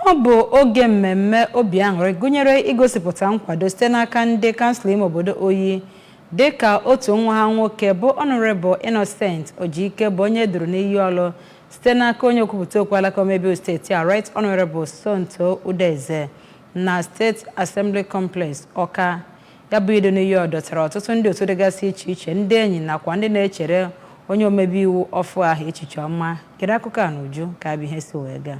Ọ bụ oge mmemme obi aṅụrị gụnyere igosipụta nkwado site n'aka ndị kansụl ime obodo Oyi dịka otu nwa ha nwoke bụ Honourable Innocent Ojike bụ onye duru n'iyi ọlụ site n'aka onye okwupụta okwu alaka omebe iwu steeti a Right Honourable Somto Udeze na State Assembly Complex Ọka. Ya bụ idu n'iyi ọ dọtara ọtụtụ ndị otu dịgasị iche iche ndị enyi nakwa ndị na-echere onye omebe iwu ọfụ ahụ echiche ọma. Gere akụkọ a n'uju ka ya bụ ihe si wee gaa.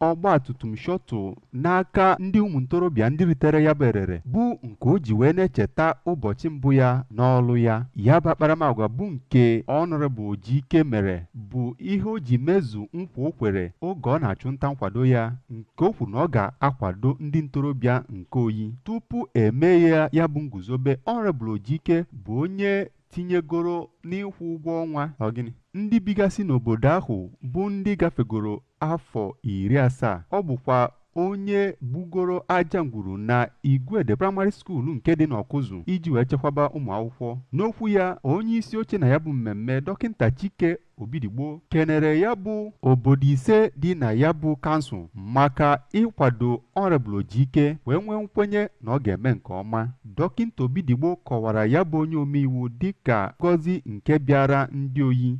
ọgbatumtum shuttle n'aka ndị ụmụntorobịa ndị ritere ya bụ erere bụ nke o ji wee na-echeta ụbọchị mbụ ya n'ọlụ ya. Ya bụ akparamagwa bụ nke Honourable Ojike mere bụ ihe o ji mezu nkwa o kwere oge ọ na-achụ nta nkwado ya nke o kwuru na ọ ga-akwado ndị ntorobịa nke Oyi. Tupu e mee ya ya bụ nguzobe, Honourable Ojike bụ onye tinyegoro n'ịkwụ ụgwọ ọnwa okenye ndị bigasị n'obodo ahụ bụ ndị gafegoro afọ iri asaa. Ọ bụkwa onye gbugoro aja ngwuru na Igwede Primary School nke dị n'Ọkụzụ iji wee chekwaba ụmụ akwụkwọ. N'okwu ya, onye isi oche na ya bụ mmemme Dọkịnta Chike Obidigbo kenere ya bụ obodo ise dị na ya bụ kansụl maka ịkwado Honourable Ojike wee nwee nkwenye na ọ ga-eme nke ọma. Dọkịnta Obidigbo kọwara ya bụ onye omeiwu dịka ngọzi nke bịaara ndị Oyi.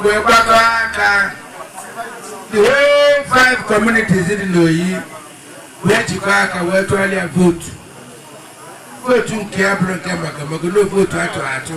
wee gbakọ aka the whole five communities dị n'Oyi wee jikọ aka wee tụalụ ya vootu vootu nke ya bụrụ nke maka maka na vootu atụ atụ.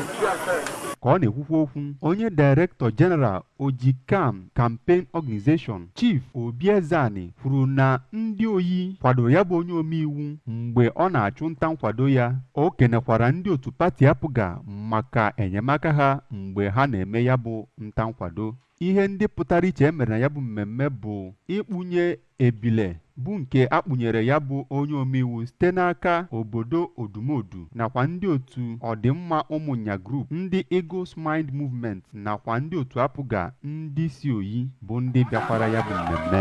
Ka ọ na-ekwukwa okwu onye Director General Ojike Campaign Organization, Chief Obi Ezeani kwuru na ndị Oyi kwadoro ya bụ onye omeiwu mgbe ọ na-achụ nta nkwado ya. O kenekwara ndị otu pati APGA maka enyemaka ha mgbe ha na-eme ya bụ nta nkwado. Ihe ndị pụtara iche e mere na ya bụ mmemme bụ ịkpụnye ebile bụ nke a kpụnyere ya bụ onye omeiwu site n'aka obodo Odumodu nakwa ndị otu Ọdịmma Ụmụnya Group, ndị Eagles Mind Movement nakwa ndị otu APGA ndị si Oyi bụ ndị bịakwara ya bụ mmemme.